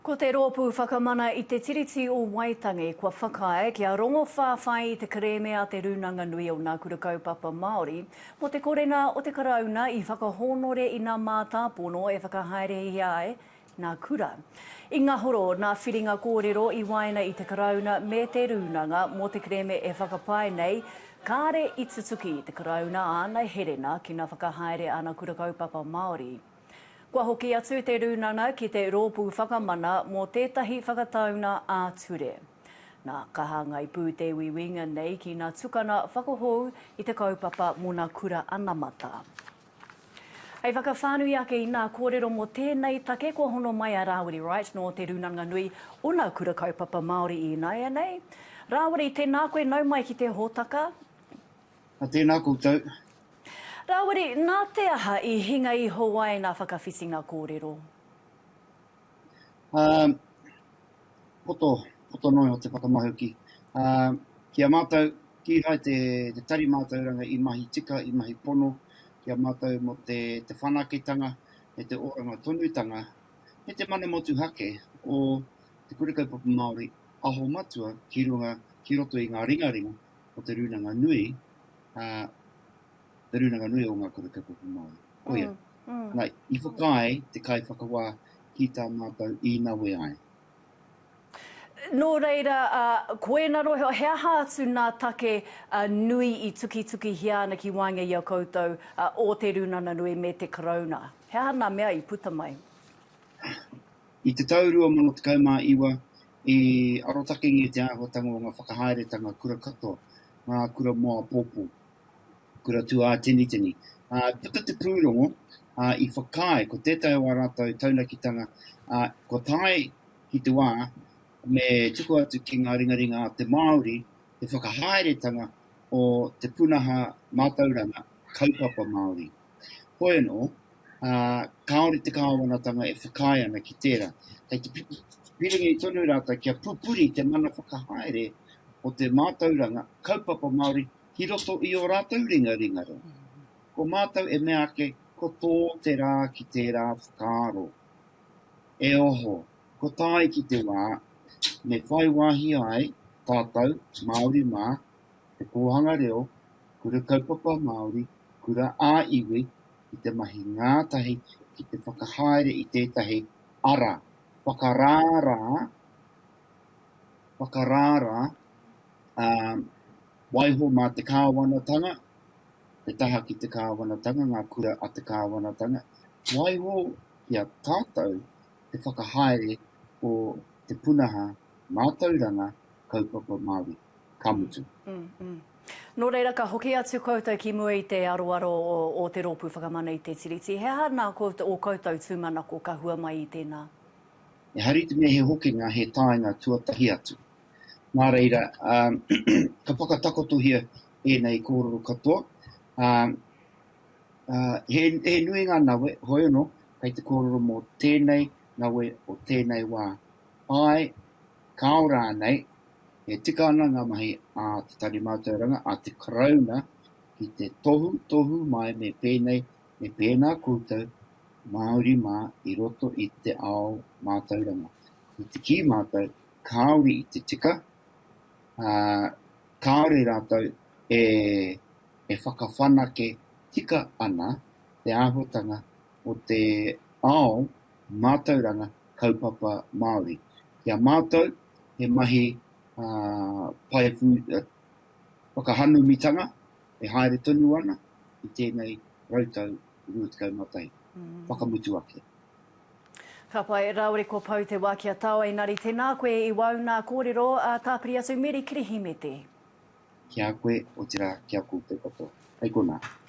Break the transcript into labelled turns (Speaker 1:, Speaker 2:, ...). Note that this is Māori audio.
Speaker 1: Ko te Rōpū Whakamana i te Tiriti o Waitangi kua whakaae kia rongo whāwhai i te kerēme a Te Rūnanga Nui o Ngā Kura Kaupapa Māori mō te korenga o te Karauna i whakahōnore i ngā mātāpono e whakahaerehia ai ngā kura. I ngahoro ngā whiringa kōrero i waenga i te Karauna me te Rūnanga mō te kerēme e whakapae nei kāre i tutuki te Karauna āna herenga ki ngā whakahaere a ngā Kura Kaupapa Māori. Kua hoki atu te Rūnana ki te Rōpū Whakamana mō tētahi whakataunga ā-ture. Nā, ka hāngai pū te uiuinga nei ki ngā tukanga whakahou i te kaupapa mōna kura anamata. Hei whakawhānui ake i ngā kōrero mō tēnei take kua hono mai a Rāwiri Wright nō Te Rūnanga Nui, ōna Kura Kaupapa Māori ināianei. Rāwiri, tēnā koe nau mai ki te hōtaka. A
Speaker 2: tēnā koutou. Rāwiri,
Speaker 1: nā te aha i hinga iho ai ngā whakawhitinga kōrero? Ā,
Speaker 2: poto, poto noa iho te whakamahuki. Ā, ki a mātou, kīhai te, te Tari Mātauranga i mahi tika, i mahi pono ki a mātou mō te, te whanaketanga me te oranga tonutanga me te mana motuhake o te Kura Kaupapa Māori aho matua ki runga, ki roto i ngā ringaringa o te rūnanga nui, ā, te rūnanga nui o ngā kura kaupapa Māori. Koia. Mm, mm. Nā, i whakaae te kaiwhakawā ki tā mātou i nawe ai.
Speaker 1: Nō reira, uh, koena rohe, he aha atu nā take uh, nui i tukitukihia ana ki waenga i a koutou uh, o te rūnana nui me te karauna? He aha nā mea i puta mai?
Speaker 2: I te tau 2019, I arotakengia te āhuatanga o ngā whakahaeretanga kura katoa, ngā kura mō apōpō, kura tūāteniteni, ā, i puta te pūrongo, ā, i whakaae ko tētahi o ā rātou taunakitanga, ā, kua tae ki te wā me tuku atu ki ngā ringaringa a te Māori te whakahaeretanga o te pūnaha mātauranga kaupapa Māori. Hoi anō, ā, kāore te kāwanatanga e whakaae ana ki tērā. Kei te piringi tonu rātou kia pupuri te mana whakahaere o te mātauranga kaupapa Māori ki roto i ō rātou ringaringa reo. Ko mātou e mea ake, ko tō te rā ki tērā whakaaro. E oho, ko tāiki te wā, me whai wāhi ai tātou, Māori mā, te Kōhanga Reo, Kura Kaupapa Māori, Kura ā-Iwi, ki te mahi ngātahi ki te whakahaere i tētahi ara whakarārā, whakarārā, ā, waiho mā te Kāwanatanga, te taha ki te Kāwanatanga, ngā kura a te Kāwanatanga, waiho ki a tātou te whakahaere o te punaha mātauranga kaupapa Māori, ka mutu.
Speaker 1: Nō reira, ka hoki atu koutou ki mua i te aroaro o te Rōpū Whakamana i te Tiriti. He aha nā ō koutou tūmanako ka hua mai i tēnā? Ehara i
Speaker 2: te mea he hokinga, he taenga tuatahi atu. Nā reira, ka whakatakotohia ēnei kōrero katoa. He nui ngā nawe, hoi anō, kei te kōrero mō tēnei nawe o tēnei wā, Āe, ka ao rānei, e tika ana ngā mahi a Te Tari Mātauranga, a te Karauna ki te tohu, tohu mai me pēnei, me pēnā koutou Māori mā i roto i te ao mātauranga. I te kī mātou, kāore i te tika, ā, kāore rātou e, e whakawhanake tika ana te āhuatanga o te ao mātauranga kaupapa Māori. Ki a mātou, he mahi paewhu whakahanumitanga e haere tonu ana i tēnei rautau 21, whakamutu ake. Ka
Speaker 1: pai, raore ko Pou te wa ki a tau Engari tena koe i wau na korero a tapiri atu Meri Kirihimete.
Speaker 2: Ki a koe, otira
Speaker 1: ki a
Speaker 2: koutou katoa.
Speaker 1: Hei
Speaker 2: kona.